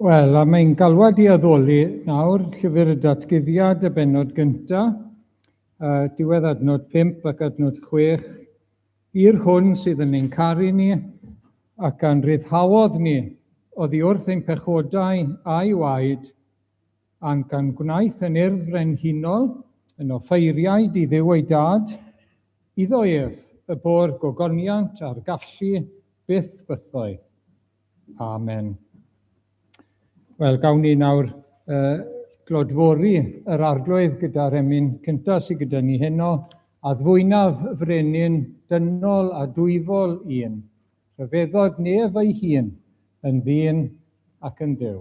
Wel, a mae'n galwad i addoli nawr llyfr y datguddiad y benod gyntaf, uh, diwedd adnod 5 ac adnod 6, I'r hwn sydd yn ein caru ni, ac a'n rhyddhaodd ni oddi wrth ein pechodau a'i waed, a'n gan gwnaeth yn Urdd Frenhinol, yn offeiriaid i Dduw ei Dad, iddo ef y bo'r gogoniant a'r gallu byth bythoedd. Amen. Wel, gawn ni nawr uh, glodfori yr arglwydd gyda'r emyn cyntaf sydd gyda ni heno, a ddwynaf frenin dynol a dwyfol un, rhyfeddod nef ei hun, yn ddyn ac yn ddew.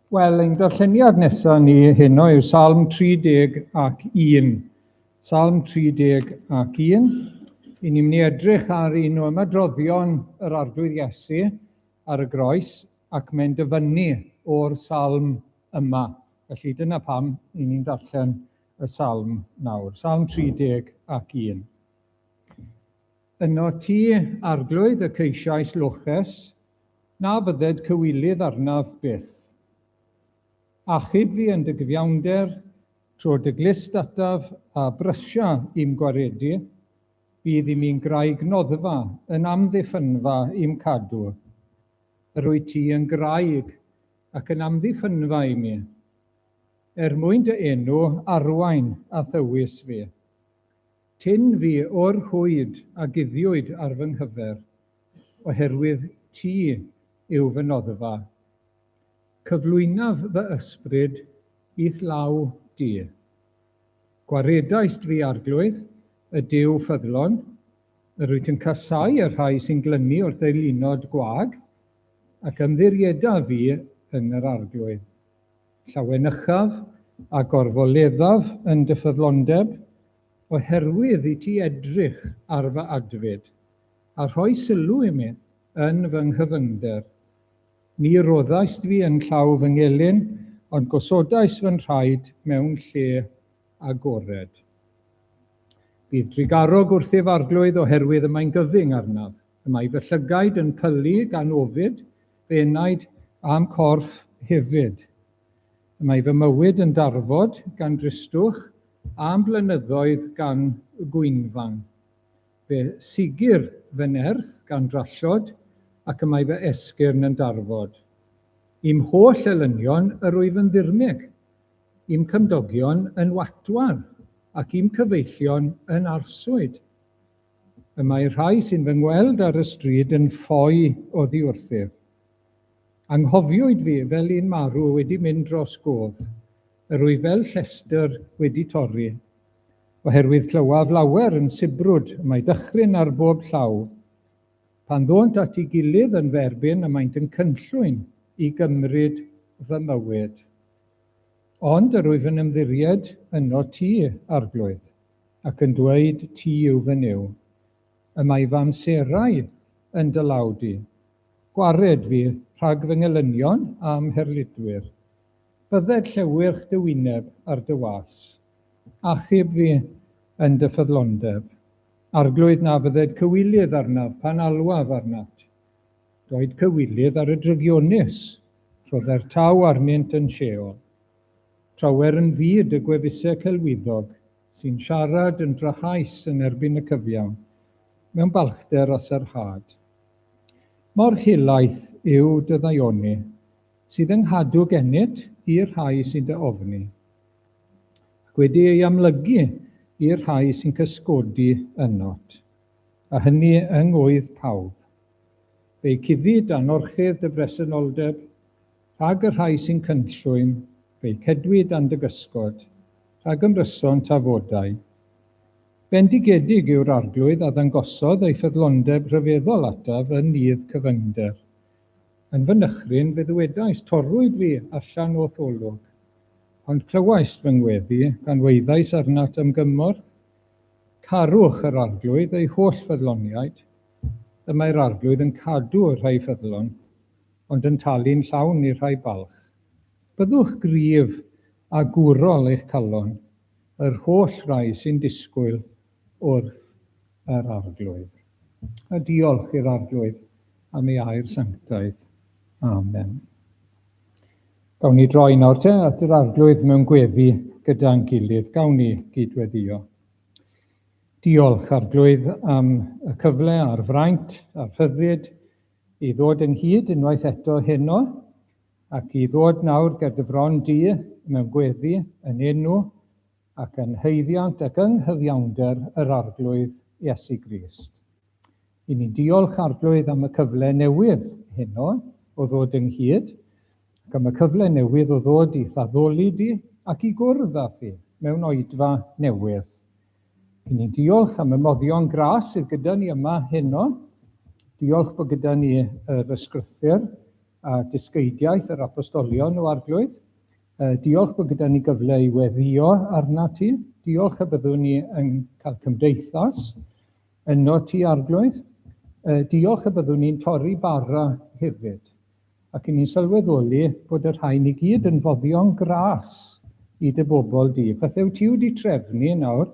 Wel, ein darlleniad nesaf ni heno yw Salm 30 ac 1. Salm 30 ac 1. I ni'n mynd i edrych ar un o ymadroddion yr arglwydd Iesu ar y groes ac mae'n dyfynnu o'r salm yma. Felly dyna pam i ni'n darllen y salm nawr. Salm 30 ac 1. Yno ti, arglwydd, y ceisiais loches, Na fydded cywilydd arnaf byth. Achub fi yn dy gyfiawnder, tro dy glust ataf a brysia i'm gwaredu, bydd i mi'n graig noddfa yn amddiffynfa i'm cadw. Yr wyt ti yn graig ac yn amddiffynfa i mi. Er mwyn dy enw arwain a thywys fi. Tyn fi o'r rhwyd a guddiwyd ar fy nghyfer. oherwydd ti yw fy noddfa. Cyflwynaf fy ysbryd i'th law di. Gwaredaist fi Arglwydd, y Duw ffyddlon, yr wyt yn casáu y rhai sy'n glynu wrth eu lunod gwag, ac ymddirieda fi yn yr Arglwydd. Llawenychaf a gorfoleddaf yn dy ffyddlondeb, oherwydd i ti edrych ar fy adfyd, a rhoi sylw i mi yn fy nghyfyngder. Ni roddaist fi yn llaw fy ngelyn, ond gosodais fy nhraed mewn lle agored. Bydd drugarog wrthyf arglwydd oherwydd y mae'n gyfyng arnaf, y mae fy llygaid yn pylu gan ofid, fy enaid a'm corff hefyd. Y mae fy mywyd yn darfod gan dristwch, a'm blynyddoedd gan gwynfan. Fe sigir fy nerth gan drallod, ac y mae fy esgyrn yn darfod. I'm holl elynion yr wyf yn ddirmyg, i'm cymdogion yn watwar, ac i'm cyfeillion yn arswyd. Y mae rhai sy'n fy ngweld ar y stryd yn ffoi oddiwrthyf. Anghofiwyd fi fel un marw wedi mynd dros gof, Yr wyf fel llestr wedi torri, oherwydd clywaf lawer yn sibrwd y mae dychryn ar bob llaw. Pan ddônt at ei gilydd yn fy erbyn y maent yn cynllwyn i gymryd fy mywyd. Ond yr wyf yn ymddiried yno ti, Arglwydd, ac yn dweud ti yw fy Nuw. Y mae fy amserau yn dy law di. Gwared fi rhag fy ngelynion a'm herlidwyr. Bydded llewyrch dy wyneb ar dy was, achub fi yn dy ffyddlondeb, Arglwydd, na fydded cywilydd arnaf pan alwaf arnat. Doed cywilydd ar y drygionus, rhodder taw arnynt yn Sheol. Trawer yn fyd y gwefuse celwyddog, sy'n siarad yn drychais yn erbyn y cyfiawn, mewn balchder a sarhad. Mor helaeth yw dy ddaioni, Sydd yn nghadw gennyt i'r rhai sy'n dy ofni, ac wedi ei amlygu i'r rhai sy'n cysgodi ynddo't, a hynny yng ngwydd pawb. Fe'i cufid â nhorchudd dy bresenoldeb, rhag y rhai sy'n cynllwyn, fe'i cedwid dan dy gysgod, rhag ymryson tafodau. Bendigedig yw'r arglwydd a ddangosodd ei ffyddlondeb rhyfeddol ataf yn nydd cyfyngder, Yn fy nychryn fe ddywedais, Torrwyd fi allan o'th olwg, ond clywaist fy ngweddi, gan waeddais arnat am gymorth. Carwch yr Arglwydd, ei holl ffyddloniaid, y mae'r Arglwydd yn cadw y rhai ffyddlon, ond yn talu'n llawn i'r rhai balch. Byddwch gryf a gwrol eich calon, yr holl rai sy'n disgwyl wrth yr Arglwydd, a diolch i'r Arglwydd am ei air sanctaidd. Amen. Gawn ni droi nawr te at yr Arglwydd mewn gweddi gyda'n gilydd. Gawn ni gydweddio. Diolch, Arglwydd, am y cyfle a'r fraint a'r rhyddid i ddod ynghyd unwaith eto heno ac i ddod nawr ger dy fron di mewn gweddi yn enw ac yn haeddiant ac yng nghyfiawnder yr Arglwydd Iesu Grist. I ni'n diolch, Arglwydd, am y cyfle newydd heno o ddod ynghyd, ac am y cyfle newydd o ddod i'th addoli di ac i gwrdd â thi mewn oedfa newydd. I ni'n diolch am y moddion gras sydd gyda ni yma heno. Diolch bod gyda ni yr ysgrythyr a dysgeidiaeth yr apostolion o Arglwydd. Yy, diolch bod gyda ni gyfle i weddio arnat ti. Diolch y byddwn ni yn cael cymdeithas yno ti, Arglwydd. Yy, diolch y byddwn ni'n torri bara hefyd, ac yn ni'n sylweddoli bod y rhain i gyd yn foddion gras i dy bobl di. Pethau wyt ti wedi trefnu nawr,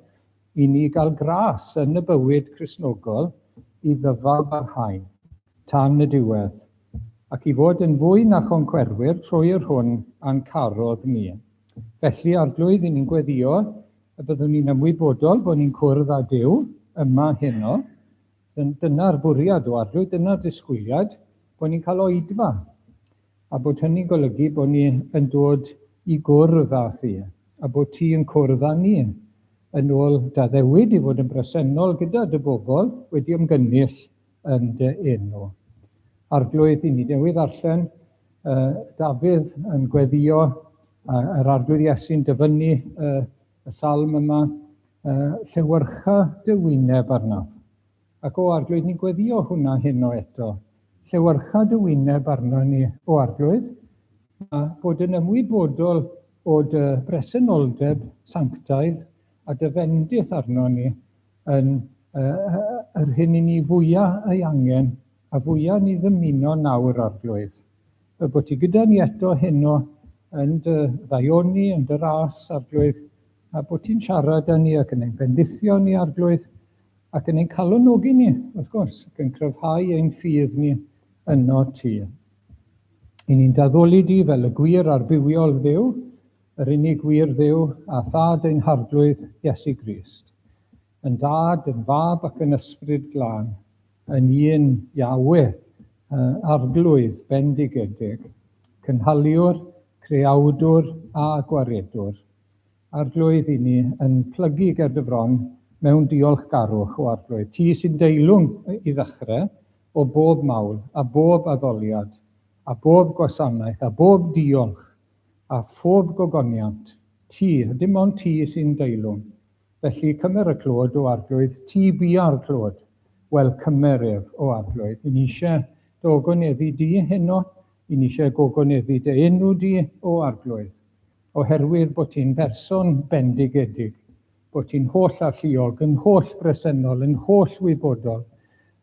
I ni gael gras yn y bywyd Cristnogol i ddyfal barhain tan y diwedd, ac i fod yn fwy na choncwerwyr trwy yr hwn a'n carodd ni. Felly, Arglwydd, i ni'n gweddïo y byddwn ni'n ymwybodol bod ni'n cwrdd â Duw yma heno, Dyna'r bwriad o Arlwy, dyna'r disgwyliad, bod ni'n cael oedfa, a bod hynny'n golygu bod ni yn dod i gwrdd â thi, a bod ti yn cwrdd â ni, yn ôl d'addewid i fod yn bresennol gyda dy bobl, wedi ymgynnull yn dy enw. Arglwydd, i ni newydd ddarllen yy Dafydd yn gweddio, a, yr Arglwydd Iesu'n dyfynnu y, Y salm yma, uh, llewyrcha dy wyneb arnaf. Ac o arglwydd, ni'n gweddio hwnna heno eto. Llewyrcha dy wyneb arno ni, o arglwydd, a bod yn ymwybodol o dy bresenoldeb sanctaidd a dy fendith arno ni yn uh, yr hyn i ni fwyaf ei angen a fwyaf ni ddymuno nawr, arglwydd. Y bod ti gyda ni eto heno yn dy ddaioni, yn dy ras, Arglwydd, a bod ti'n siarad â ni ac yn ein bendithio ni, Arglwydd, ac yn ein calonogi ni, wrth gwrs, ac yn cryfhau ein ffydd ni yno ti. I ni'n daddoli di fel y gwir a'r bywiol ddew, yr unig wir ddew a thad ein harglwydd Iesu Grist, yn dad, yn fab ac yn ysbryd glân, Yn un Yahwe, y Arglwydd bendigedig, cynhaliwr, creawdwr a gwaredwr, Arglwydd i ni, yn plygu ger dy fron mewn diolchgarwch, o Arglwydd, ti sy'n deilwng, i ddechrau, o bob mawl, a bob addoliad, a bob gwasanaeth, a bob diolch, a phob gogoniant, ti, a dim ond ti sy'n deilwng, Felly, cymer y clod o Arglwydd ti bia'r clod. Wel, cymer ef, o Arglwydd. Yn eisiau dy ogoneddu di heno, yn eisiau gogoneddu dy enw di, o Arglwydd. Oherwydd bod ti'n berson bendigedig, bod ti'n holl alluog, yn holl bresennol, yn holl wybodol,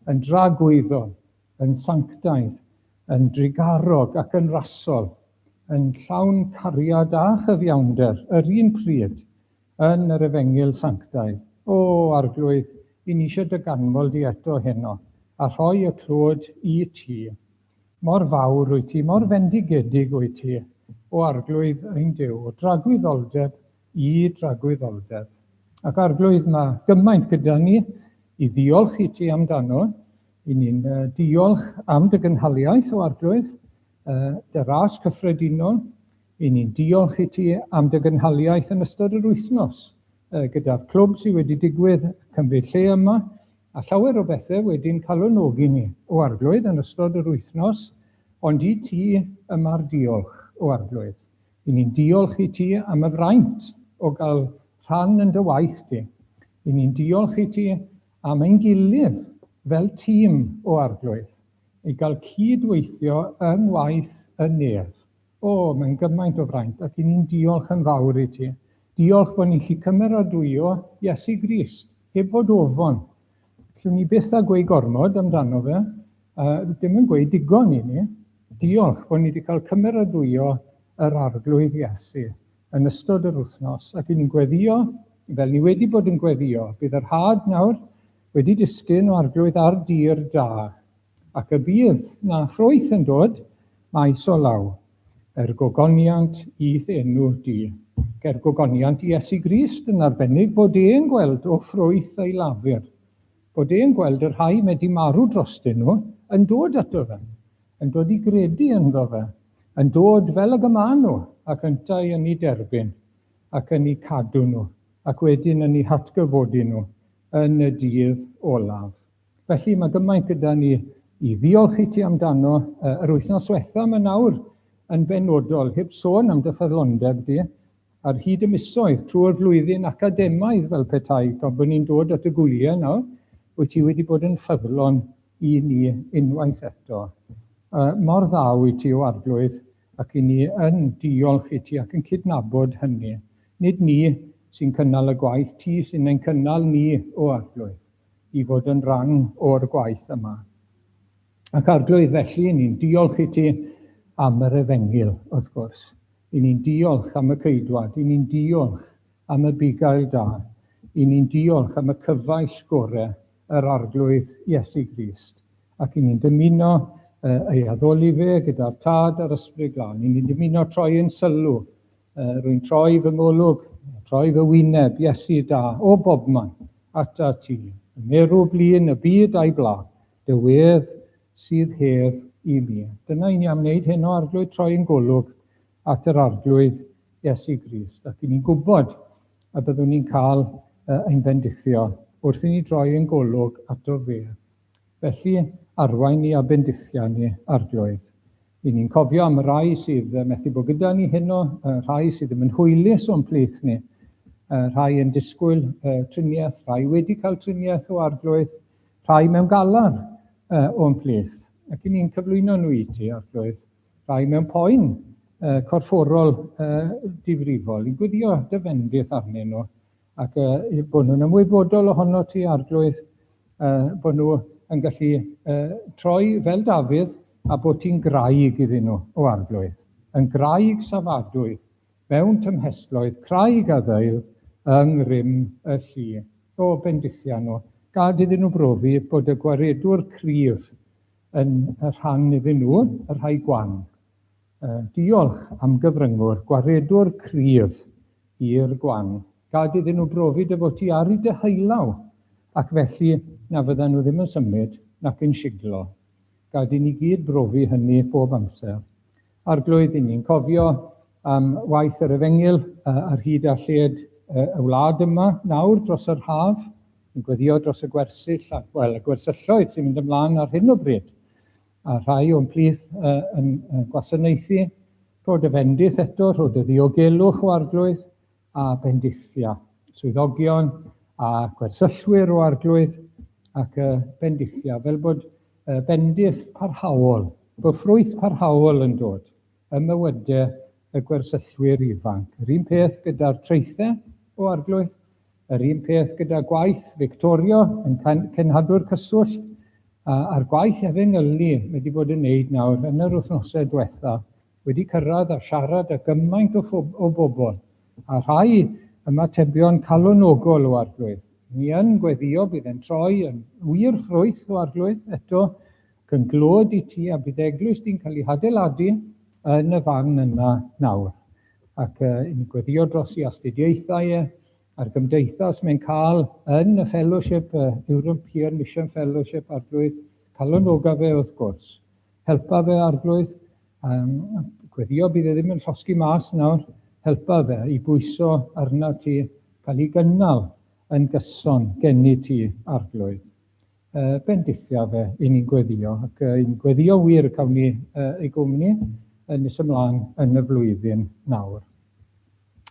yn dragwyddol, yn sanctaidd, yn drugarog ac yn rasol, yn llawn cariad a chyfiawnder yr un pryd, Yn yr Efengyl Sanctaidd. O, Arglwydd, yn eisiau dy ganmol di eto heno, a rhoi y clod i ti. Mor fawr wyt ti, mor fendigedig wyt ti, o Arglwydd ein Duw, o dragwyddoldeb i dragwyddoldeb. Ac, Arglwydd, mae gymaint gyda ni i ddiolch i ti amdano. I ni'n diolch am dy gynhaliaeth, o Arglwydd, dy ras cyffredinol, Ry'n ni'n diolch i ti am dy gynhaliaeth yn ystod yr wythnos, gyda'r clwb sydd wedi digwydd cymryd lle yma, a llawer o bethau wedi'n calonogi ni o Arglwydd yn ystod yr wythnos, ond i ti y mae'r diolch, o Arglwydd. Ry'n ni'n diolch i ti am y fraint o gael rhan yn dy waith di. Ry'n ni'n diolch i ti am ein gilydd fel tîm, o Arglwydd, i gael cyd-weithio yng ngwaith y Nef. O, mae'n gymaint o fraint, ac i ni'n diolch yn fawr i ti. Diolch bod ni'n gallu cymeradwyo Iesu Grist, heb fod ofon. Llwn ni byth a gweud gormod amdano fe, a dim yn gweud digon i ni. Diolch bod ni wedi cael cymeradwyo yr arglwydd Iesu yn ystod yr wythnos, ac i ni'n gweddio, fel ni wedi bod yn gweddio, bydd yr had nawr wedi disgyn o arglwydd ar dir da, Ac y bydd 'na ffrwyth yn dod maes o law, er gogoniant i'th enw di, ac er gogoniant i Iesu Grist yn arbennig, bod e'n gweld o ffrwyth ei lafur, bod e'n gweld y rhai mae 'di marw drostyn nhw yn dod ato fe, yn dod i gredu ynddo fe, yn dod fel ag y maen nhw, ac yntau yn eu derbyn, ac yn eu cadw nhw, ac wedyn yn eu hatgyfodi nhw yn y dydd olaf. Felly mae gymaint gyda ni i ddiolch i ti amdano uh, yr wythnos diwetha yma nawr yn benodol, heb sôn am dy ffyddlondeb di, ar hyd y misoedd trwy'r flwyddyn academaidd fel petai, tra bod ni'n dod at y gwyliau nawr, wyt ti wedi bod yn ffyddlon i ni unwaith eto. Uh, mor dda wyt ti o arglwydd ac i ni yn diolch i ti ac yn cydnabod hynny. Nid ni sy'n cynnal y gwaith, ti sy'n ein cynnal ni o arglwydd. i fod yn rhan o'r gwaith yma. Ac Arglwydd, felly, i ni'n diolch i ti am yr efengyl, wrth gwrs. I ni'n diolch am y ceidwad, i ni'n diolch am y bugail da, i ni'n diolch am y cyfaill gore, yr Arglwydd Iesu Grist. Ac i ni'n dymuno ei addoli fe gyda'r Tad a'r Ysbryd Glân. I ni'n dymuno troi yn sylw Uh, rwy'n troi fy ngolwg, troi fy wyneb, Iesu da, o bobman, ata ti. Y merw blin, y byd a'i bla, dy wedd sydd hedd i mi. Dyna i ni am wneud hyn o arglwydd troi yn golwg at yr arglwydd Iesu Grist. Ac i ni'n gwybod a byddwn ni'n cael uh, ein bendithio wrth i ni droi yn golwg ato fe. Felly, arwain ni a bendithia ni, Arglwydd. Y'n ni'n cofio am y rhai sydd methu bod gyda ni heno, y rhai sydd ddim yn hwylus o'n plith ni, y rhai yn disgwyl uh, triniaeth, rhai wedi cael triniaeth o Arglwydd, rhai mewn galar uh, o'n plith. Ac y'n ni'n cyflwyno nhw i ti, Arglwydd, rhai mewn poen uh, corfforol uh, difrifol, i gwyddio dy fendith arnyn nhw. ac uh, bod nhw'n ymwybodol ohono ti, Arglwydd, uh, bod nhw yn gallu uh, troi fel Dafydd a bod ti'n graig iddyn nhw, o Arglwydd, yn graig safadwy, mewn tymhestloedd, craig a ddeil yng ngrym y llu. O, bendithia nhw, gad iddyn nhw brofi bod y gwaredwr cryf yn rhan iddyn nhw, y rhai gwan, Diolch am gyfryngu'r gwaredwr cryf i'r gwan. Gad iddyn nhw brofi dy fod ti ar i dy heilaw, ac felly na fyddan nhw ddim yn symud nac yn siglo. Gad i ni gyd brofi hynny bob amser. Arglwydd, i ni'n cofio am waith yr efengyl ar hyd a lled y wlad yma nawr dros yr haf, yn gweddio dros y gwersyll, wel, y gwersylloedd sy'n mynd ymlaen ar hyn o bryd. a rhai o'n plith yn gwasanaethu, rhod y fendith eto, rhod y ddiogelwch o arglwydd a bendithia, swyddogion a gwersyllwyr o arglwydd ac y bendithia, fel bod bendith parhaol, bod ffrwyth parhaol yn dod. ym mywydau y gwersyllwyr ifanc. Yr un peth gyda'r traethau o Arglwydd, yr un peth gyda gwaith Victoria yn cenhadwr cyswllt, a'r gwaith efengylu mae wedi bod yn wneud nawr yn yr wythnosau diwetha, wedi cyrraedd a siarad â gymaint o, o bobl, a rhai ymatebion calonogol o Arglwydd. Ni yn gweddio bydd e'n troi yn wir ffrwyth o Arglwydd eto, Cynghlod i ti a bydd eglwys di'n cael ei hadeiladu yn y fan yma nawr. Ac uh, ni'n gweddio dros i astudiaethau e, a'r gymdeithas mae'n cael yn y Fellowship, uh, European Mission Fellowship, arglwydd, calonoga fe wrth gwrs. Helpa fe arglwydd, um, gweddio bydd e ddim yn llosgi mas nawr, helpa fe i bwyso arna ti cael ei gynnal yn gyson genni ti arglwydd. Uh, bendithio fe, i ni'n gweddio, ac uh, i'n gweddio wir y cawn ni uh, ei gwmni yn nes ymlaen yn y flwyddyn nawr.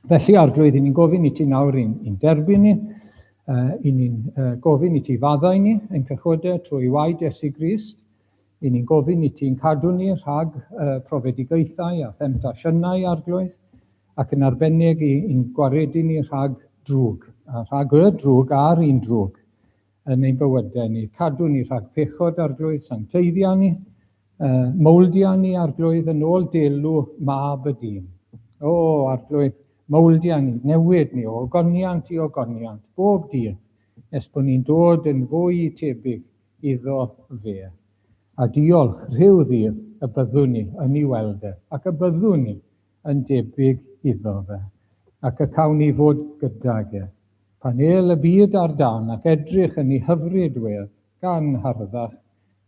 Felly, Arglwydd, i ni'n gofyn i ti nawr i'n i derbyn ni, uh, i ni'n uh, gofyn i ti faddau ni yn cychwydau trwy waed Iesu Grist, i ni'n gofyn i ti'n cadw ni rhag uh, profedigaethau a themtasiynau arglwydd, ac yn arbennig i'n gwaredu ni rhag drwg, a rhag y drwg a'r un drwg. yn ein bywydau ni, cadw ni rhag pechod arglwydd, sancteiddio ni, uh, mowldio ni arglwydd yn ôl delw mab y dyn. O, arglwydd, mowldio ni, newid ni o ogoniant i ogoniant, bob dydd, nes bod ni'n dod yn fwy tebyg iddo fe. A diolch rhyw ddydd y byddwn ni yn ei weld e, ac y byddwn ni yn debyg iddo fe, ac y cawn ni fod gydag e. Pan el y byd ar dan ac edrych yn ni hyfryd wedd gan harddach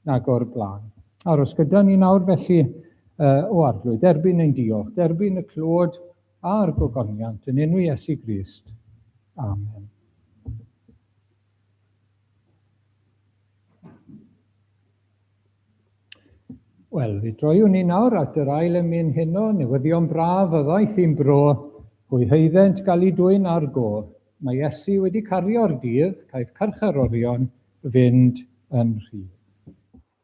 nag o'r blaen. Aros gyda ni nawr felly, o Arglwydd, derbyn ein diolch, derbyn y clod a'r gogoniant yn enw Iesu Grist. Amen. Wel, fi droiwn ni nawr at yr ail emyn heno, newyddion braf y ddaeth i'n bro, hwy heiddynt gael ei dwyn ar go. Mae Iesu wedi cario'r dydd, caiff carcharorion fynd yn rhydd.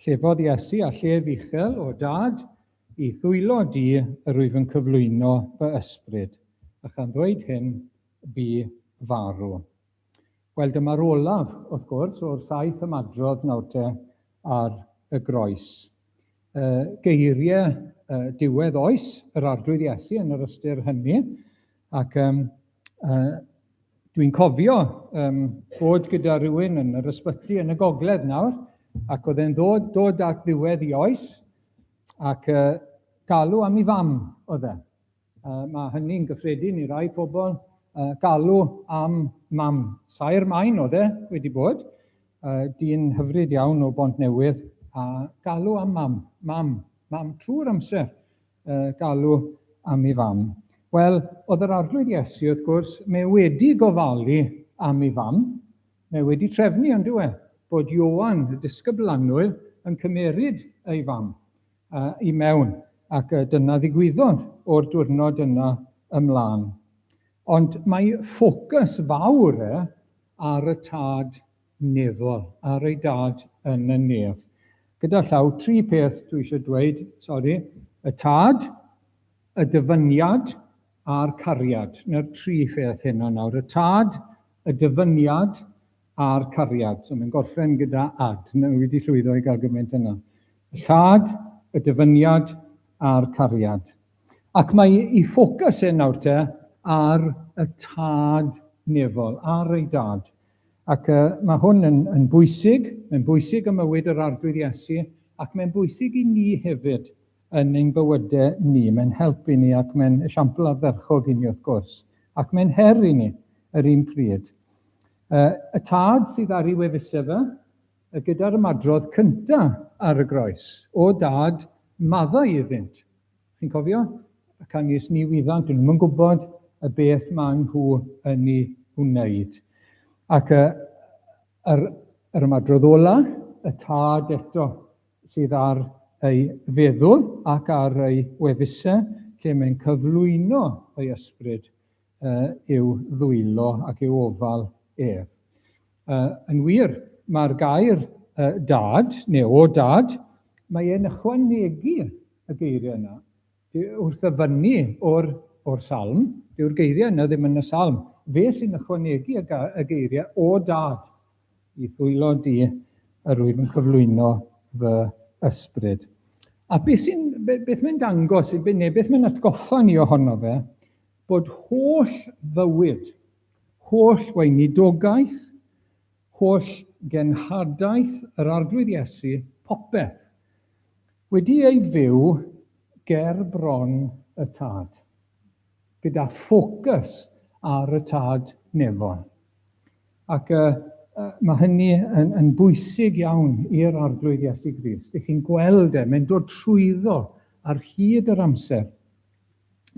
Llefodd Iesu â llef uchel, O Dad, i ddwylo Di yr wyf yn cyflwyno fy ysbryd, a chan ddweud hyn, bu farw. Wel, dyma'r olaf, wrth gwrs, o'r saith ymadrodd nawr te ar y groes. Y geiriau diwedd oes yr Arglwydd Iesu yn yr ystyr hynny, Ac yym yy dwi'n cofio yym bod gyda rywun yn yr ysbyty yn y gogledd nawr, ac oedd e'n ddod dod at ddiwedd ei oes, ac yy galw am ei fam oedd e. Yy ma' hynny'n gyffredin i rai pobl, yy galw am mam. Saer Maen oedd e wedi bod, yy dyn hyfryd iawn o Bontnewydd, a galw am mam, mam, mam trwy'r amser. Yy, galw am ei fam. Wel, oedd yr Arglwydd Iesu, wrth gwrs, mae wedi gofalu am ei fam. Mae wedi trefnu, yn dyw e, bod Ioan, y disgybl annwyl, yn cymeryd ei fam uh, i mewn, ac uh, dyna ddigwyddodd o'r diwrnod yna ymlaen. Ond mae ffocws fawr e ar y tad nefol ar ei dad yn y nef. Gyda llaw, tri peth dwi eisiau dweud, sori, y tad, y dyfyniad a'r cariad. Na'r tri pheth heno nawr. Y tad, y dyfyniad a'r cariad. So mae'n gorffen gyda ad. Nawr wi wedi llwyddo i gael gymaint yna. Y tad, y dyfyniad a'r cariad. Ac mae ei ffocws e nawr te ar y tad nefol, ar ei dad. Ac uh, mae hwn yn, yn bwysig, mae'n bwysig ym mywyd yr arglwydd Iesu, ac mae'n bwysig i ni hefyd yn ein bywydau ni. Mae'n help i ni ac mae'n esiampl ardderchog i ni wrth gwrs, ac mae'n her i ni yr un pryd. Uh, y tad sydd ar ei wefusau fe, gyda'r ymadrodd cyntaf ar y groes, o dad, maddau iddynt. Chi'n cofio? Y canys ni wyddant, dyn nhw'm yn gwybod y beth maen nhw yn ei wneud. Ac y, yr, yr ymadrodd ola, y tad eto, sydd ar ei feddwl ac ar ei wefusau, lle mae'n cyflwyno ei ysbryd i'w ddwylo ac i'w ofal ef. Uh, yn wir, mae'r gair uh, dad, neu o dad, mae e'n ychwanegu y geiriau yna. Wrth ddyfynnu o'r, or salm, dyw'r geiriau yna ddim yn y salm. Fe sy'n ychwanegu y geiriau o dad i ddwylo di yr wyf yn cyflwyno fy ysbryd. A beth, beth mae'n dangos, neu beth mae'n atgoffa ni ohono fe, Bod holl fywyd, holl weinidogaeth, holl genhadaeth yr Arglwydd Iesu, popeth, wedi ei fyw ger bron y Tad, gyda ffocws ar y Tad Nefol. Ac uh, uh, mae hynny yn, yn bwysig iawn i'r Arglwydd Iesu Grist. Ych chi'n gweld e, mae'n dod trwyddo ar hyd yr amser.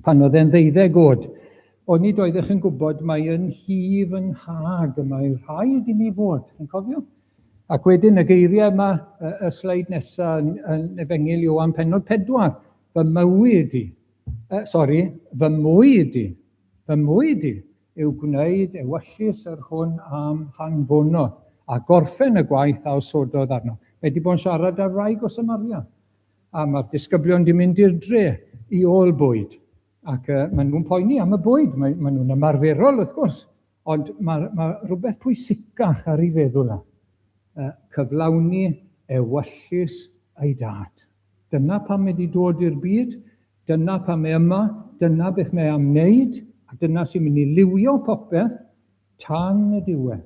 pan oedd e'n ddeuddeg oed. Onid oeddech yn gwybod mai yn hi fy nhad y mae rhaid i mi fod, chi'n cofio? Ac wedyn y geiriau yma, y, y sleid nesaf yn, yn Efengil Iowan Penod 4, fy mywyd i, uh, sori, fy mwyd i, fy mwyd i yw gwneud ewyllys yr hwn am hanfonodd a gorffen y gwaith a osododd arno. Mae wedi bod yn siarad ar wraig o Samaria. A mae'r disgyblion di mynd i'r dre i ôl bwyd. Ac uh, maen nhw'n poeni am y bwyd, maen, maen nhw'n ymarferol wrth gwrs, ond mae, mae rhywbeth pwysicach ar ei feddwl na. Uh, cyflawni ewyllus ei dad. Dyna pam mae wedi dod i'r byd, dyna pam mae yma, dyna beth mae am wneud, a dyna sy'n mynd i liwio popeth tan y diwedd.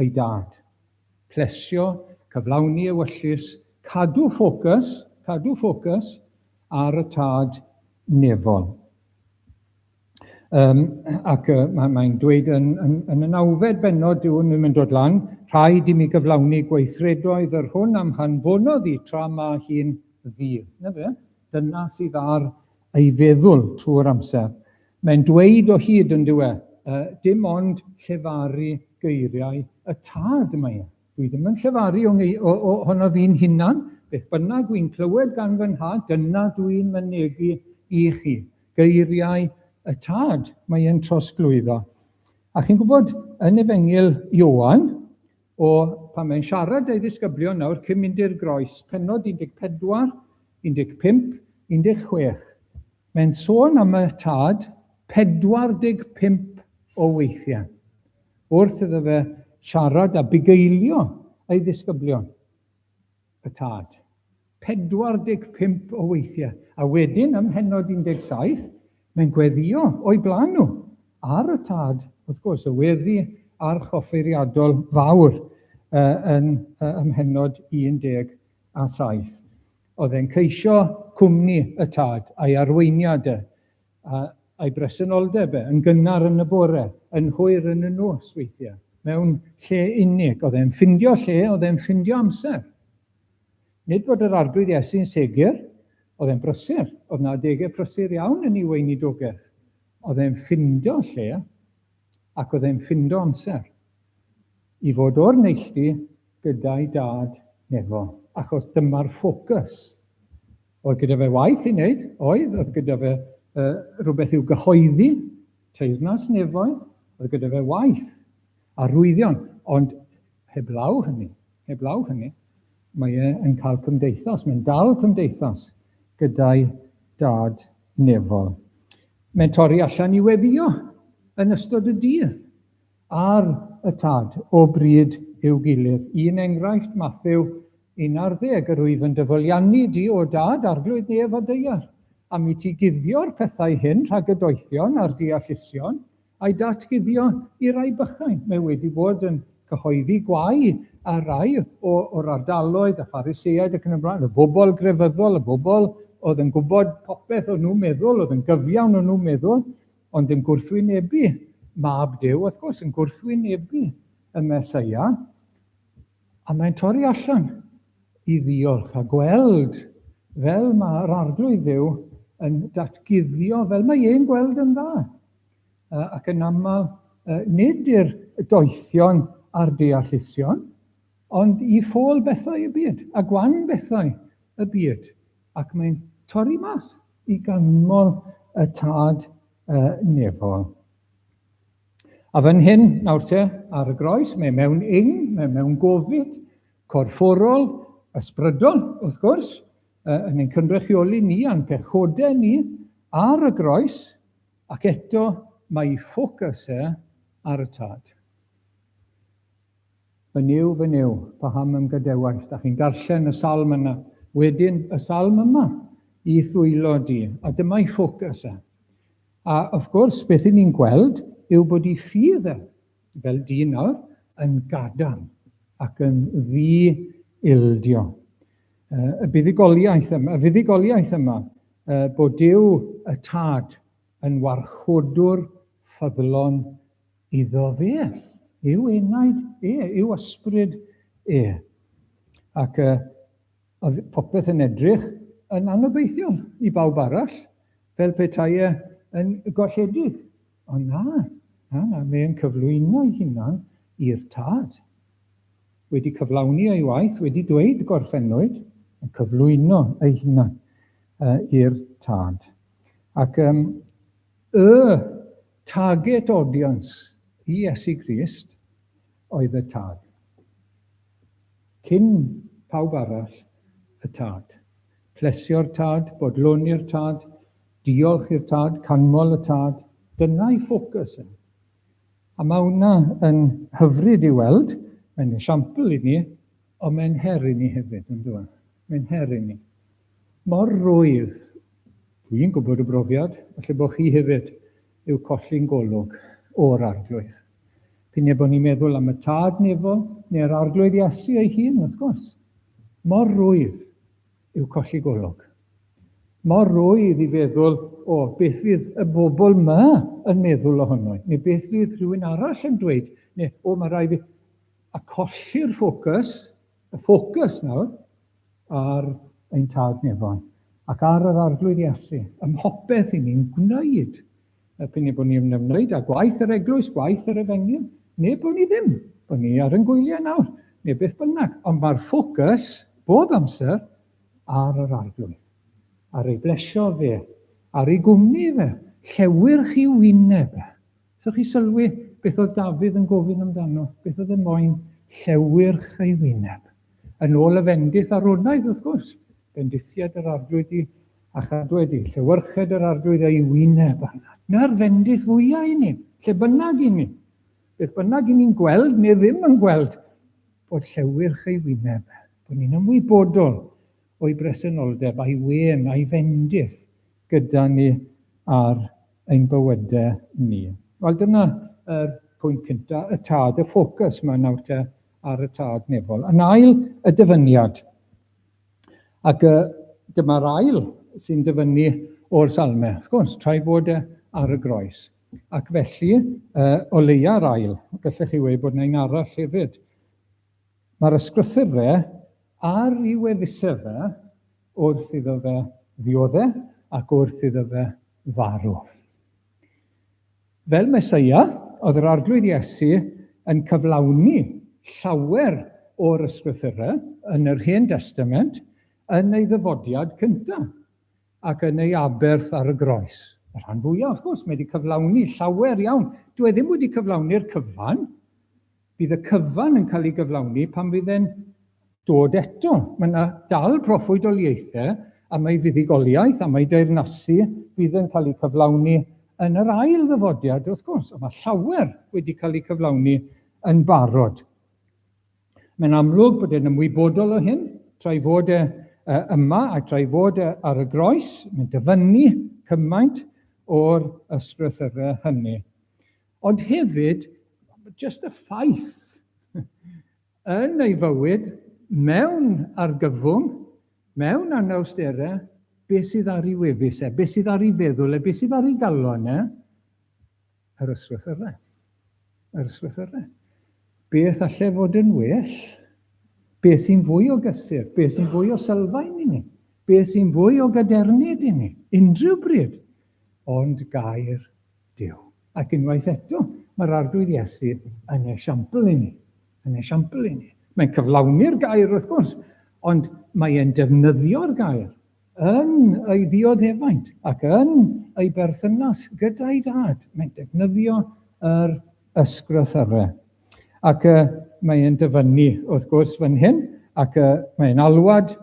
ei dad. Plesio, cyflawni ewyllys, cadw ffocws, cadw ffocws ar y tad nefol. Um, ac uh, mae'n mae dweud yn, yn, yn y nawfed benod, dyw hwn ddim yn dod lan, rhaid i mi gyflawni gweithredoedd yr hwn am han fonodd i tra mae hi'n ddydd. Na fe? Dyna sydd ar ei feddwl trwy'r amser. Mae'n dweud o hyd yndyw e, yy, dim ond llefaru geiriau y tad mae e. Dwi ddim yn llefaru o, o, o honno fi'n hunan, beth bynnag wi'n clywed gan fy nhad, dyna dwi'n mynegi i chi. Geiriau y tad mae e'n trosglwyddo. A chi'n gwybod, yn Efengyl Ioan, O, pan mae'n siarad 'da'i ddisgyblion nawr cyn mynd i'r groes, pennod 14, 15, 16, mae'n sôn am y tad 45 o weithiau, wrth iddo fe siarad a bugeilio ei ddisgyblion. y tad. 45 o weithiau, a wedyn ym mhennod 17, mae'n gweddio o'i blan nhw, ar y tad, wrth gwrs, y weddi archoffeiriadol fawr yn ym mhennod 17. Oedd e'n ceisio cwmni y tad, a'i arweiniad e, A a'i bresenoldeb e, yn gynnar yn y bore, yn hwyr yn y nos weithiau, mewn lle unig. Oedd e'n ffindio lle, oedd e'n ffindio amser. Nid bod yr Arglwydd Iesu'n segur, oedd e'n brysur, oedd na adegau prysur iawn yn ei weinidogaeth. Oedd e'n ffindio lle, ac oedd e'n ffindio amser, i fod o'r neilltu gyda'i dad nefol, achos dyma'r ffocws Oedd gyda fe waith i wneud, oedd, oedd gyda fe uh, rhywbeth i'w gyhoeddi, teyrnas nefoedd, oedd gyda fe waith, arwyddion, ond heblaw hynny, heblaw hynny, mae e yn cael cymdeithas, mae'n dal cymdeithas gyda'i dad nefol. Mae'n torri allan i weddio yn ystod y dydd. ar y tad o bryd i'w gilydd. Un enghraifft, Mathew 11, Yr wyf yn dy fwliannu di, O Dad, Arglwydd nef a ddaear, am i ti guddio'r pethau hyn rhag y doethion a'r deallusion, a'i datguddio i rai bychain. Mae wedi bod yn cyhoeddi gwau ar rai o, o'r ardaloedd, y Phariseaid ac yn y blaen, y bobl grefyddol, y bobl oedd yn gwybod popeth o'n nhw'n meddwl, oedd yn gyfiawn o'n nhw'n meddwl, ond yn gwrthwynebu Mab Duw, wrth gwrs, yn gwrthwynebu y Mesoea, a mae'n torri allan i ddiolch a gweld fel mae'r arglwydd dduw yn datguddio fel mae e'n gweld yn dda. Ac yn aml, nid i'r doethion a'r deallusion, ond i ffôl bethau y byd, a gwan bethau y byd. Ac mae'n torri mas i ganmol y tad uh, nefol. A fan hyn, nawr te, ar y groes, mae mewn ing, mae mewn gofid, corfforol, ysbrydol, wrth gwrs, uh, yn ein cynrychioli ni a'n pechodau ni ar y groes, ac eto mae ffocws e ar y tad. Fy Nuw, fy Nuw, paham ym gadewais? Dach chi'n darllen y salm yna, wedyn y salm yma, i ddwylo di, a dyma'i ffocws e. A wrth gwrs, beth i ni'n gweld yw bod i ffydd e, fel dyn nawr, yn gadarn ac yn ddi-ildio. Y buddugoliaeth yma, y fuddugoliaeth yma bod Duw y Tad yn warchodwr ffyddlon Iddo fe, yw enaid e, yw ysbryd e. Ac uh, oedd popeth yn edrych yn anobeithiol i bawb arall, fel petai e yn golledig. Ond na, na, na, mae'n cyflwyno'i hunan i'r tad. Wedi cyflawni ei waith, wedi dweud gorffennwyd, yn cyflwyno ei hunan uh, i'r tad. Ac um, y Target audience i Iesu Grist oedd y Tad. Cyn pawb arall, y Tad. Plesio'r Tad, bodloni i'r Tad, diolch i'r Tad, canmol y Tad, dyna'i ffocws e. A mae hwnna yn hyfryd i weld, mae'n esiampl i ni, ond mae'n her i ni hefyd, yn dyw e? Mae'n her i ni. Mor rwydd, dwi'n gwybod o brofiad, falle bod chi hefyd, yw colli'n golwg o'r Arglwydd. P'un ebo ni'n meddwl am y Tad nefol neu'r Arglwydd Iesu ei hun, wrth gwrs. Mor rwydd yw colli golwg. Mor rwydd i feddwl, o, beth fydd y bobl yma yn meddwl ohono i, neu beth fydd rhywun arall yn dweud, neu o, mae rhaid fi... a colli'r ffocws y ffocws nawr ar ein Tad Nefon ac ar yr Arglwydd Iesu ym mhopeth i ni'n gwneud. Er p'un bod ni'n ymwneud â gwaith yr eglwys, gwaith yr efengyl, neu bod ni ddim, bod ni ar yn gwyliau nawr, neu beth bynnag, ond mae'r ffocws bob amser ar yr Arglwydd, ar ei blesio fe, ar ei gwmni fe, llewyrch i wyneb e, Allwch chi sylwi beth oedd Dafydd yn gofyn amdano? Beth oedd e moyn? Llewyrch ei wyneb. Yn ôl y fendith aronaidd, wrth gwrs. Bendithiad yr arglwydd i a chadwed i. Llewyrched yr arglwydd ei wyneb arna. Na'r fendith fwyaf i ni, lle bynnag i ni. Beth bynnag i ni'n gweld neu ddim yn gweld, bod llewyrch ei wyneb, bod ni'n ymwybodol o'i bresenoldeb, a'i wên, a'i fendith gyda ni ar ein bywydau ni. Wel dyna yr pwynt cynta, y tad, y ffocws mae nawr te ar y tad nefol. Yn ail, y dyfyniad. Ac y, dyma'r ail sy'n dyfynnu o'r salme. Wrth gwrs, tra'i fod e ar y groes. Ac felly, uh, o leia'r ail, gallech chi weud bod yna un arall hefyd. Mae'r ysgrythurfa ar ei weddisedd fe wrth iddo fe ddiodde ac wrth iddo fe farw. Fel Meseia, oedd yr Arglwydd Iesu yn cyflawni llawer o'r ysgrythurfa yn yr Hen Destament yn ei ddyfodiad cyntaf ac yn ei aberth ar y groes. Y rhan fwyaf, wrth gwrs, mae wedi cyflawni llawer iawn. Dw e ddim wedi cyflawni'r cyfan, Bydd y cyfan yn cael ei gyflawni pan fydd e'n dod eto. Mae yna dal proffwydoliaethau a mae fuddugoliaeth a mae deyrnasu fydd yn cael eu cyflawni yn yr ail ddyfodiad wrth gwrs, ond mae llawer wedi cael eu cyflawni yn barod. Mae'n amlwg bod e'n ymwybodol o hyn, tra'i fod e yma a tra'i fod e ar y groes, mae'n dyfynnu cymaint o'r ysgrythyrau hynny. Ond hefyd, jyst y ffaith, yn ei fywyd, mewn argyfwng, mewn anawsterau, beth sydd ar ei wefus e, beth sydd ar ei feddwl e, beth sydd ar ei galon e? Yr ysgrythyrau. Yr ysgrythyrau. Beth allai fod yn well? Beth sy'n fwy o gysur? Beth sy'n fwy o sylfaen i ni? Beth sy'n fwy o gadernid i ni? Unrhyw bryd. Ond gair Duw. Ac unwaith eto, mae'r Arglwydd Iesu yn esiampl i ni. Yn esiampl i ni. Mae'n cyflawni'r gair, wrth gwrs, ond mae e'n defnyddio'r gair yn ei ddioddefaint ac yn ei berthynas gyda'i dad. Mae'n defnyddio yr ysgrythyrau. Ac uh, mae'n dyfynnu, wrth gwrs, fan hyn, ac uh, mae'n alwad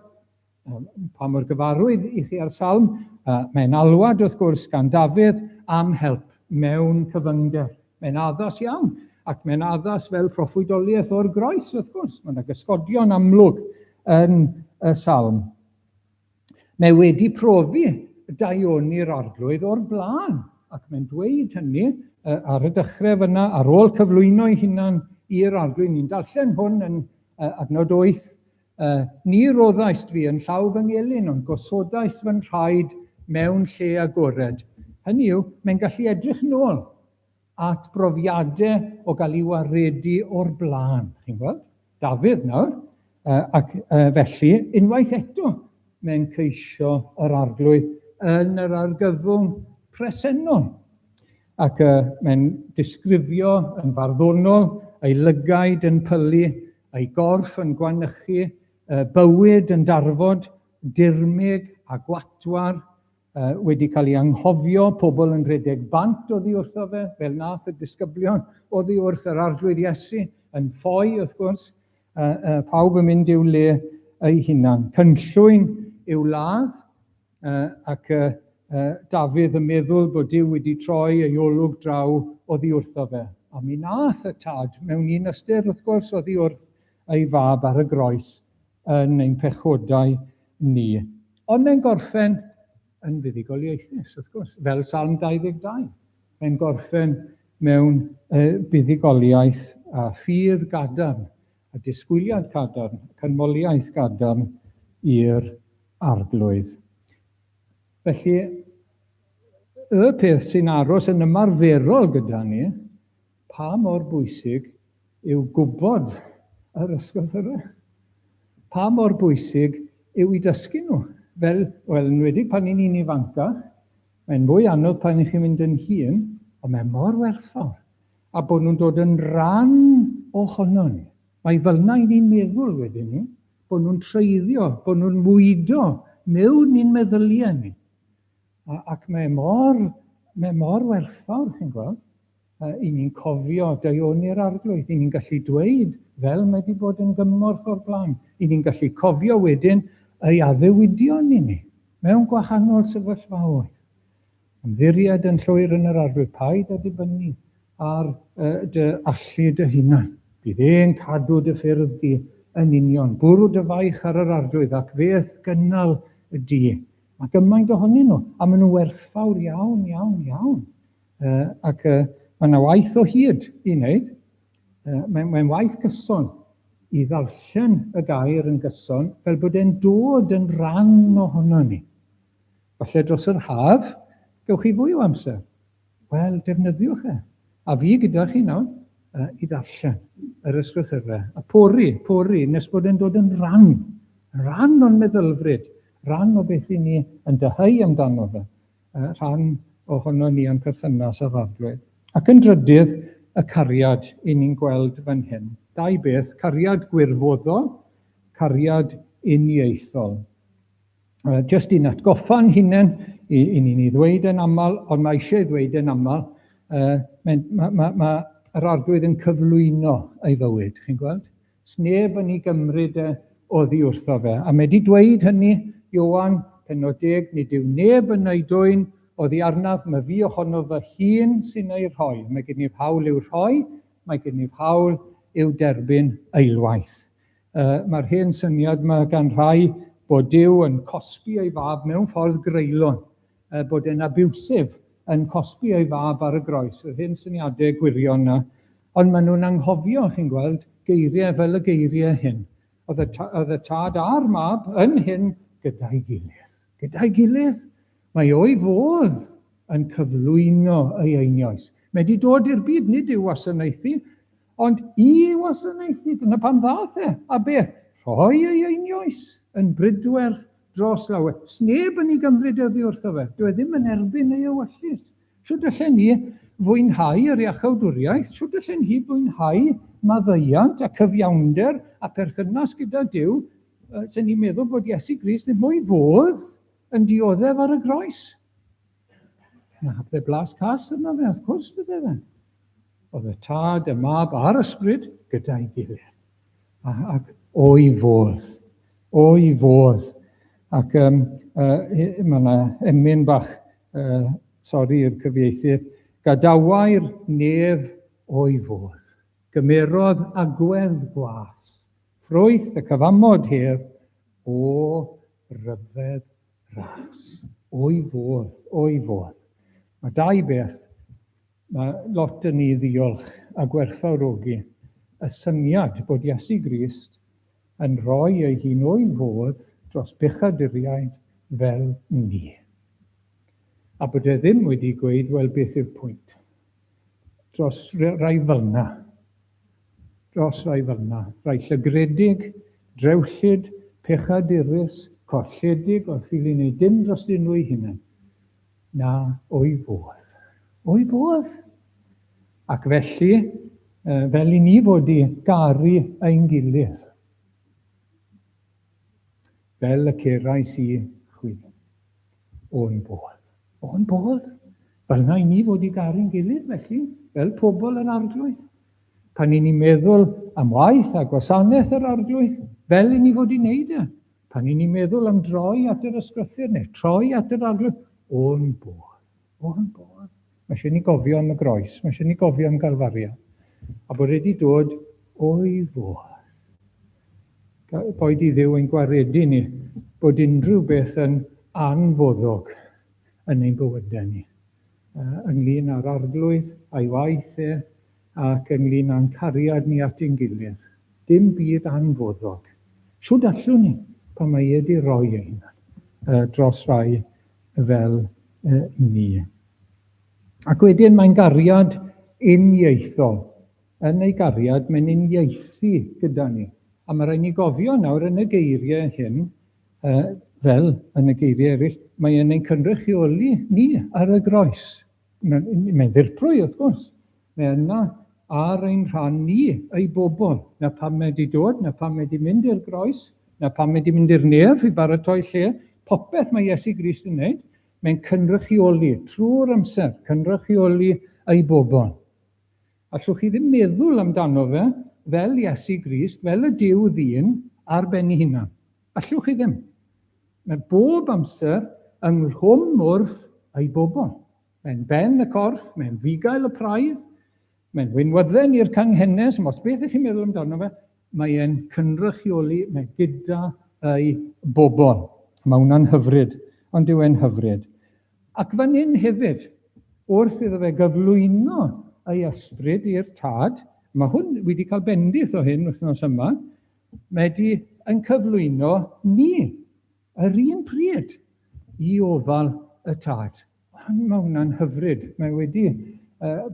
Pa mor gyfarwydd i chi â'r salm? Mae'n alwad, wrth gwrs, gan Dafydd am help mewn cyfyngder. Mae'n addas iawn, ac mae'n addas fel proffwydoliaeth o'r groes, wrth gwrs. Mae yna gysgodion amlwg yn y salm. Mae wedi profi daioni'r arglwydd o'r blaen, ac mae'n dweud hynny ar y dechrau fyna, ar ôl cyflwyno'i hunan i'r arglwydd. Ni'n darllen hwn yn adnod 8, Yy, ni roddaist fi yn llaw fy ngelyn, ond gosodaist fy nhraed mewn lle agored. Hynny yw, mae'n gallu edrych yn ôl at brofiadau o gael ei waredu o'r blaen, chi'n gweld? Dafydd nawr, yy, ac yy, felly, unwaith eto, mae'n ceisio yr Arglwydd yn yr argyfwng presennol. Ac y mae'n disgrifio yn farddonol ei lygaid yn pylu, ei gorff yn gwanychu, y bywyd yn darfod, dirmyg a gwatwar, uh, wedi cael ei anghofio, pobl yn rhedeg bant oddi wrtho fe, fel nath y disgyblion oddi wrth yr Arglwydd Iesu, yn ffoi wrth gwrs, A, a pawb yn mynd i'w le ei hunan. Cynllwyn i'w ladd, a, ac a, a, Dafydd yn meddwl bod Dyw wedi troi ei olwg draw oddi wrtho fe. A mi nath y Tad, mewn un ystyr wrth gwrs, oddi wrth ei Fab ar y groes yn ein pechodau ni. Ond mae'n gorffen yn fuddugoliaethus, wrth gwrs, fel Salm 22. Mae'n gorffen mewn uh, buddugoliaeth a ffydd gadarn, a disgwyliad cadarn, canmoliaeth gadarn i'r arglwydd. Felly, y peth sy'n aros yn ymarferol gyda ni Pa mor bwysig yw gwybod yr ysgrythyrau? Pa mor bwysig yw i dysgu nhw? Fel, wel, yn wedi pan ni'n un ifancach, mae'n mwy anodd pan i chi'n mynd yn hŷn, ond mae mor werthfawr, a bod nhw'n dod yn rhan o hono ni. Mae fel na i ni'n meddwl wedyn ni, bod nhw'n treiddio, bod nhw'n mwydo mewn i'n meddyliau ni. A, ac mae mor, mae mor werthfawr, chi'n gweld. Yy, i ni'n cofio deuoni'r Arglwydd, i ni'n gallu dweud, fel mae wedi bod yn gymorth o'r blaen, i ni'n gallu cofio wedyn ei addewidion i ni, mewn gwahanol sefyllfaoedd. Ymddiried yn llwyr yn yr Arglwydd, paid â dibynnu ar uh, dy allu dy hunan. Bydd e'n cadw dy ffyrdd di yn union. Bwrw dy faich ar yr Arglwydd ac feth gynnal y di. Mae gymaint ohonyn nhw, a maen nhw werthfawr iawn, iawn, iawn. Uh, ac uh, mae yna waith o hyd i wneud. Uh, Mae'n mae waith gyson i ddarllen y gair yn gyson fel bod e'n dod yn rhan ohono ni. Falle dros yr haf, gewch chi fwy o amser. Wel, defnyddiwch e. A fi gyda chi nawr uh, i ddarllen yr ysgrythyrfa. A pori, pori, nes bod e'n dod yn rhan. Rhan o'n meddylfryd. Rhan o beth i ni yn dyhau amdano fe. rhan ohonon ni o'n perthynas â'r arglwydd. Ac yn drydydd, y cariad 'yn ni'n gweld fan hyn. Dau beth, cariad gwirfoddol, cariad uniaethol. Jyst i'n atgoffa'n hunain, 'yn ni'n ei ddweud e'n aml, ond mae eisiau ei ddweud e'n aml, mae yr arglwydd yn cyflwyno ei fywyd, chi'n gweld? Does neb yn ei gymryd e oddi wrtho fe. A mae wedi dweud hynny, Ioan, penod deg, nid yw neb yn ei dwyn oddi arnaf, mae fi ohono fy hun sy'n ei rhoi. Mae gennyf hawl i'w rhoi, mae gennyf hawl i'w derbyn eilwaith. Uh, Mae'r hen syniad mae gan rhai bod Dyw yn cosbi ei fab mewn ffordd greulon. Er bod e'n abusive, yn cosbi ei fab ar y groes, yr hen syniadau gwirion 'na. Ond maen nhw'n anghofio, chi'n gweld, geiriau fel y geiriau hyn. Oedd y ta- oedd y tad a'r mab yn hŷn gyda'i gilydd. Gyda'i gilydd! Mae o i fodd yn cyflwyno ei einioes. Mae 'di dod i'r byd, nid i'w wasanaethu. Ond i wasanaethu, dyna pam ddaeth e. A beth? Rhoi ei einioes yn brydwerth dros lawer. Sneb yn ei gymryd oddi wrtho fe. Dyw e ddim yn erbyn ei ewyllys. Shwt allen ni fwynhau yr iachawdwriaeth? Shwt allen hi fwynhau maddeuant a cyfiawnder a pherthynas gyda Duw? Sen ni'n meddwl bod Iesu Grist ddim o'i fodd yn dioddef ar y groes. Na, fe blas cas yna fe, wrth cwrs bydde fe. Oedd y tad, y mab a'r ysbryd gyda'i gilydd. Ac o'i fodd, o'i fodd. Ac um, uh, mae yna emyn bach, uh, sori i'r cyfieithydd, gadawai'r nef o'i fodd. Gymerodd agwedd gwas, ffrwyth y cyfamod hef o ryfedd Ras. O'i fodd, o'i fodd. Mae dau beth, mae lot yn ni ddiolch a gwerthfawrogi y syniad bod Iesu Grist yn rhoi ei hun o'i fodd dros bechaduriaid fel ni. A bod e ddim wedi gweud, wel beth yw'r pwynt? dros rai fel 'na, dros rai fel 'na, rai llygredig, drewllyd, pechadurus, colledig, oedd ffili wneud dim drostyn nhw'u hunain. Na, o'i fodd. O'i fodd! Ac felly, fel i ni fod i garu ein gilydd, fel y cerais i chwi. O'n bodd. O'n bodd. Fel na i ni fod i garu'n gilydd felly, fel pobl yr Arglwydd. Pan i ni meddwl am waith a gwasanaeth yr Arglwydd, fel i ni fod i wneud e. Pan i ni meddwl am droi at yr ysgrythyr neu troi at yr Arglwydd, o'n bodd. O am bwrdd. Mae eisiau ni gofio am y groes. Mae eisiau ni gofio am Galfaria. A bod wedi dod o'i fodd. Boed i Dduw ein gwaredu ni bod unrhyw beth yn anfoddog yn ein bywydau ni, ynglyn â'r Arglwydd a'i waith e, ac ynglyn â'n cariad ni at ein gilydd. Dim byd anfoddog. Shwd allwn ni, pan mae e wedi rhoi ei hunan dros rai fel uh, ni. Ac wedyn mae'n gariad uniaethol. Yn ei gariad, mae'n uniaethu gyda ni. A mae rhaid ni gofio nawr yn y geiriau hyn, uh, fel yn y geiriau eraill, mae'n ein cynrychioli ni ar y groes. Mae'n mae ddirprwy, wrth gwrs. Mae yna ar ein rhan ni, ei bobl, na pam mae wedi dod, na pam mae wedi mynd i'r groes, na pam mae wedi mynd i'r nef i baratoi lle. Popeth mae Iesu Grist yn wneud, mae'n cynrychioli trwy'r amser, cynrychioli ei bobl. Allwch chi ddim meddwl amdano fe fel Iesu Grist, fel y Duw ddyn, ar ben ei hunan. Allwch chi ddim. Mae bob amser yng nghlwm wrth ei bobl. Mae'n ben y corff, mae'n fugail y praidd, mae'n wynwydden i'r canghennes, ond os beth ych chi'n meddwl amdano fe, mae e'n cynrychioli, mae gyda ei bobl. Mae hwnna'n hyfryd, ond dyw e'n hyfryd. Ac fan hyn hefyd, wrth iddo fe gyflwyno ei ysbryd i'r Tad, mae hwn, wi 'di cael bendith o hyn wythnos yma, mae 'di yn cyflwyno ni, yr un pryd, i ofal y Tad. Hon, mae hwnna'n hyfryd, mae wedi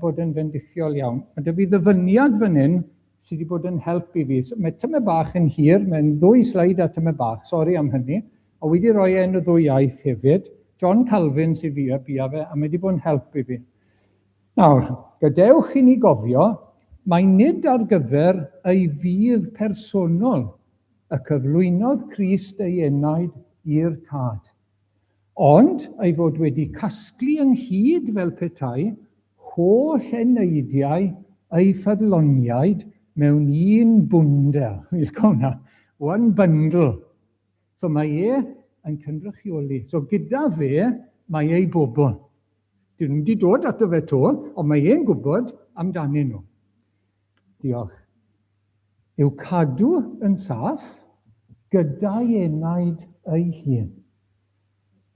bod yn fendithiol iawn. Mae 'da fi ddyfyniad fan hyn sy wedi bod yn help i fi. So, mae tymed bach yn hir, mae'n ddwy sleid a tymed bach, sori am hynny, a wedi rhoi e yn y ddwy iaith hefyd. John Calvin sydd fi a bia fe, a mae wedi bod yn help i fi. Nawr, gadewch i ni gofio, mae nid ar gyfer ei fydd personol y cyflwynodd Crist ei enaid i'r Tad. ond ei fod wedi casglu ynghyd fel petai holl eneidiau ei ffyddloniaid mewn un bwndel, one bundle. So mae e yn cynrychioli, so gyda fe mae ei bobl. Dyn nhw wedi dod ato fe 'to, ond mae e'n gwybod amdanyn nhw. Diolch. I'w cadw yn saff gyda'i enaid ei hun.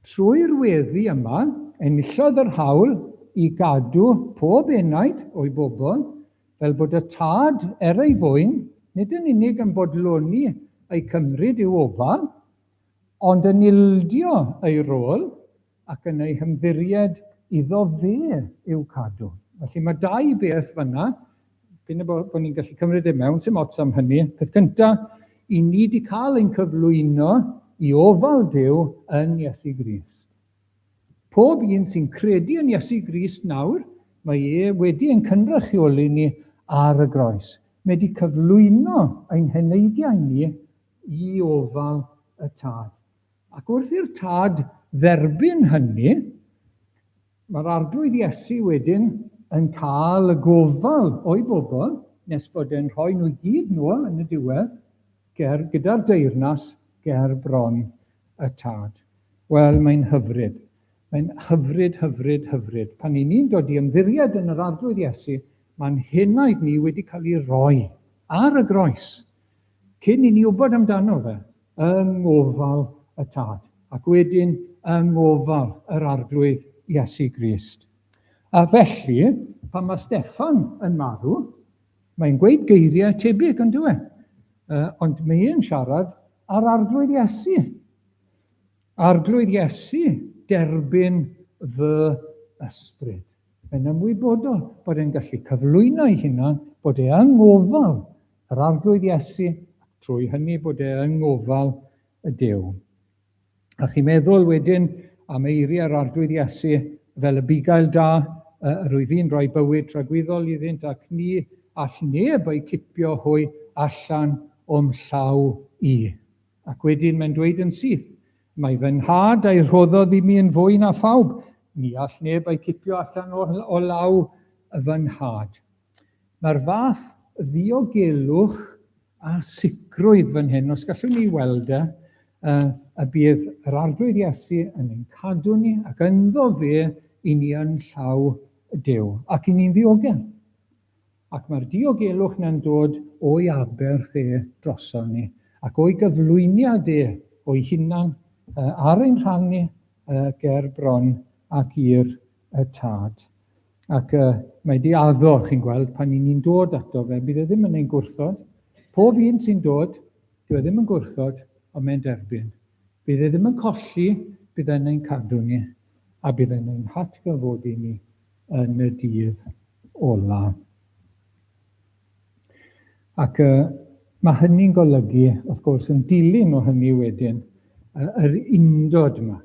Trwy'r weddi yma, enillodd yr hawl i gadw pob enaid o'i bobl, fel bod y Tad, er ei fwyn, nid yn unig yn bodloni eu cymryd i'w ofal, Ond yn ildio ei rôl ac yn ei hymddiried iddo fe i'w cadw. Felly mae dau beth fanna, prin y bod ni'n gallu cymryd e mewn, sy'n ots am hynny. Peth cynta, i ni wedi cael ein cyflwyno i ofal Duw yn Iesu Grist. Pob un sy'n credu yn Iesu Grist nawr, mae e wedi ein cynrychioli ni ar y groes. Mae wedi cyflwyno ein heneidiau ni i ofal y tad. Ac wrth i'r tad dderbyn hynny, mae'r Arglwydd Iesu wedyn yn cael y gofal o'i bobl, nes bod e'n rhoi nhw i gyd nhw yn y diwedd, ger gyda'r deyrnas ger bron y tad. Wel, mae'n hyfryd. Mae'n hyfryd, hyfryd, hyfryd. Pan i ni'n dod i ymddiried yn yr Arglwydd Iesu, mae'n henaid ni wedi cael ei roi ar y groes. Cyn i ni wybod amdano fe, yng ngofal y Tad, ac wedyn yng ngofal yr Arglwydd Iesu Grist. A felly, pan mae Steffan yn marw, mae'n gweud geiriau tebyg, ond dwi, e? ond mae e'n siarad ar Arglwydd Iesu. Arglwydd Iesu, derbyn fy ysbryd. Mae'n ymwybodol bod e'n gallu cyflwyno ei hunan, bod e yng ngofal Yr Arglwydd Iesu, ac trwy hynny bod e yng ngofal y Duw. A chi'n meddwl wedyn am eiriau'r Arglwydd Iesu fel y bugail da yr wyf i'n rhoi bywyd tragwyddol iddynt ac ni all neb eu cipio hwy allan o'm llaw i. Ac wedyn mae'n dweud yn syth, mae fy nhad a'i rhoddodd i mi yn fwy na phawb, ni all neb eu cipio allan o law fy nhad. Mae'r fath ddiogelwch a sicrwydd fan hyn, os gallwn ni weld e, uh, y bydd yr arglwydd Iesu yn ein cadw ni ac ynddo fe i ni yn llaw Dyw ac i ni'n ddiogel. Ac mae'r diogelwch na'n dod o'i aberth e droson ni ac o'i gyflwyniad e o'i hunan uh, ar ein rhan ni uh, ger bron ac i'r y tad. Ac uh, mae di addo, chi'n gweld, pan ni'n ni'n dod ato fe, bydd e ddim yn ein gwrthod. Pob un sy'n dod, bydd e ddim yn gwrthod, ond mae'n derbyn. Bydd e ddim yn colli, bydd e'n ein cadw ni, a bydd e'n ein hatgyfodi ni yn y dydd ola. Ac uh, mae hynny'n golygu, wrth gwrs, yn dilyn o hynny wedyn, uh, yr undod yma.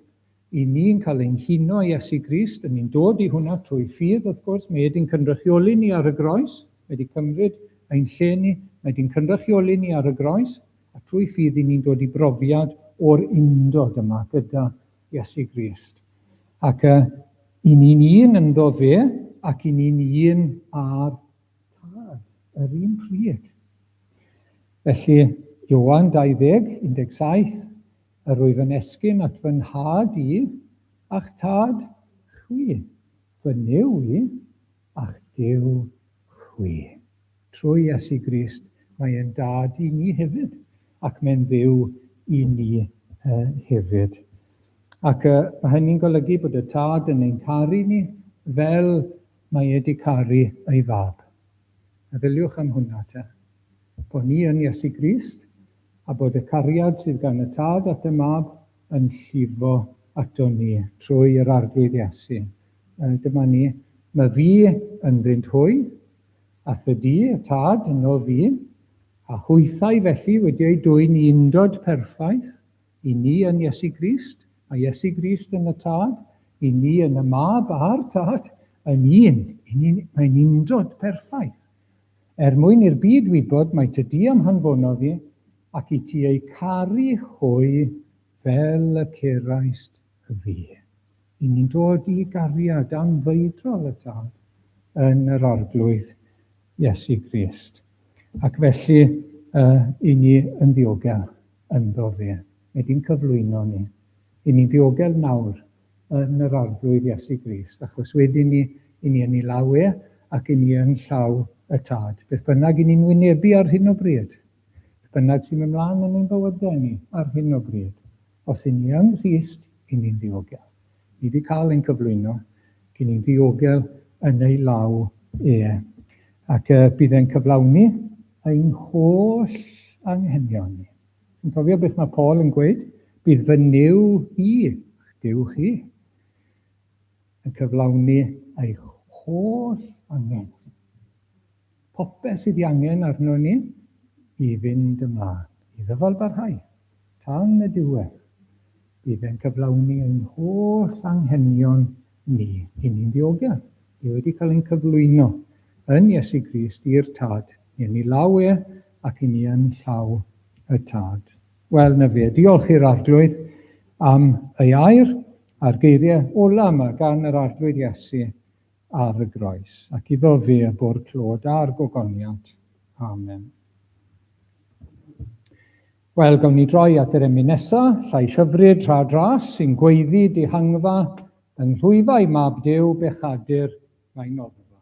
Y ni'n cael ein huno i Iesu Grist, y ni'n dod i hwnna trwy ffydd wrth gwrs, mae e di'n cynrychioli ni ar y groes, mae di cymryd ein lle ni, mae di'n cynrychioli ni ar y groes, a trwy ffydd i ni'n dod i brofiad o'r undod yma gyda Iesu Grist. Ac y, i ni'n un ynddo fe, ac i ni'n un â'r Tad, yr un pryd. Felly, Ioan 20, 17, Yr wyf yn esgyn at fy nhad i, a'ch tad chwi, fy Nuw i, a'ch Duw chwi. Trwy Iesu Grist, mae e'n Dad i ni hefyd, ac mae'n Dduw i ni hefyd. Ac mae hynny'n golygu bod y Tad yn ein caru ni fel mae e wedi caru ei Fab. Meddyliwch am hwnna te. Bo' ni yn Iesu Grist, a bod y cariad sydd gan y Tad at y Mab yn llifo aton ni trwy yr Arglwydd Iesu. Dyma ni. Ma' fi ynddynt hwy, a thydi y Tad yno fi, a hwythau felly wedi eu dwyn i undod perffaith, I ni yn Iesu Grist, a Iesu Grist yn y Tad, i ni yn y Mab a'r Tad, yn un, mae'n undod perffaith. Er mwyn i'r byd wybod mai ty Di a'm hanfonodd i, ac i ti eu caru hwy fel y cerais fi. Yn ni'n dod i gariad anfeidrol y Tad yn yr Arglwydd Iesu Grist, ac felly y i ni yn ddiogel ynddo fe. Mae di'n cyflwyno ni. I ni'n ddiogel nawr yn yr Arglwydd Iesu Grist, achos wedyn ni i ni yn i law e ac i ni yn llaw y Tad. Beth bynnag i ni'n wynebu ar hyn o bryd, Beth bynnag sy'n mynd mlaen yn ein bywydau ni ar hyn o bryd, os yn ni yng Nghrist, yn ni'n ddiogel. Ni wedi cael ein cyflwyno, ac yn ni'n ddiogel yn ei law e. Ac uh, bydd e'n cyflawni ein holl anghenion ni. Yn cofio beth mae Paul yn gweud, bydd fy niw i, a'ch diw chi, yn cyflawni eich holl angen. Popeth sydd ei angen arnon ni i fynd ymlaen, i ddyfalbarhau, tan y diwedd. Bydd e'n cyflawni ein holl anghenion ni i ni'n ddiogel, ni wedi cael ein cyflwyno yn Iesu Grist i'r Tad, i yn ei law e ac i ni yn llaw y Tad. Wel, 'na fe. Diolch i'r Arglwydd am ei air, a'r geiriau ola' 'ma gan yr Arglwydd Iesu ar y groes, ac iddo fe y bu'r clod a'r gogoniant. Amen. Wel, gawn ni droi at yr emyn nesa, llais hyfryd rha dras sy'n gweiddi dihangfa yng nghlwyfau mab Duw bechadur mae noddfa.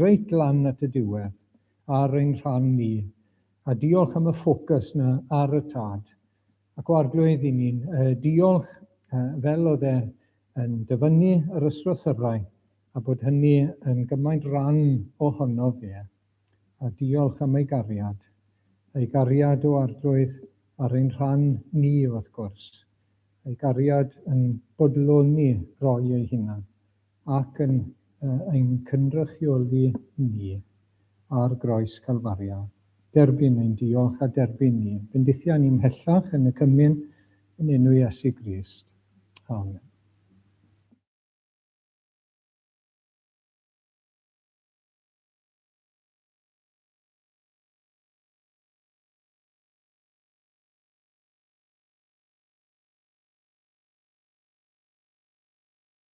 reit lan at y diwedd ar ein rhan ni, a diolch am y ffocws 'na ar y tad, ac o Arglwydd i ni'n diolch fel o'dd e yn dyfynnu yr ysgrythyrau, a bod hynny yn gymaint ran ohono fe, a diolch am ei gariad, ei gariad o Arglwydd ar ein rhan ni wrth gwrs, ei gariad yn bodloni roi ei hunan, Ac yn ein cynrychioli ni ar groes Calfaria, derbyn ein diolch a derbyn ni bendithia ni mhellach yn y cymun yn enw Iesu Grist. Amen.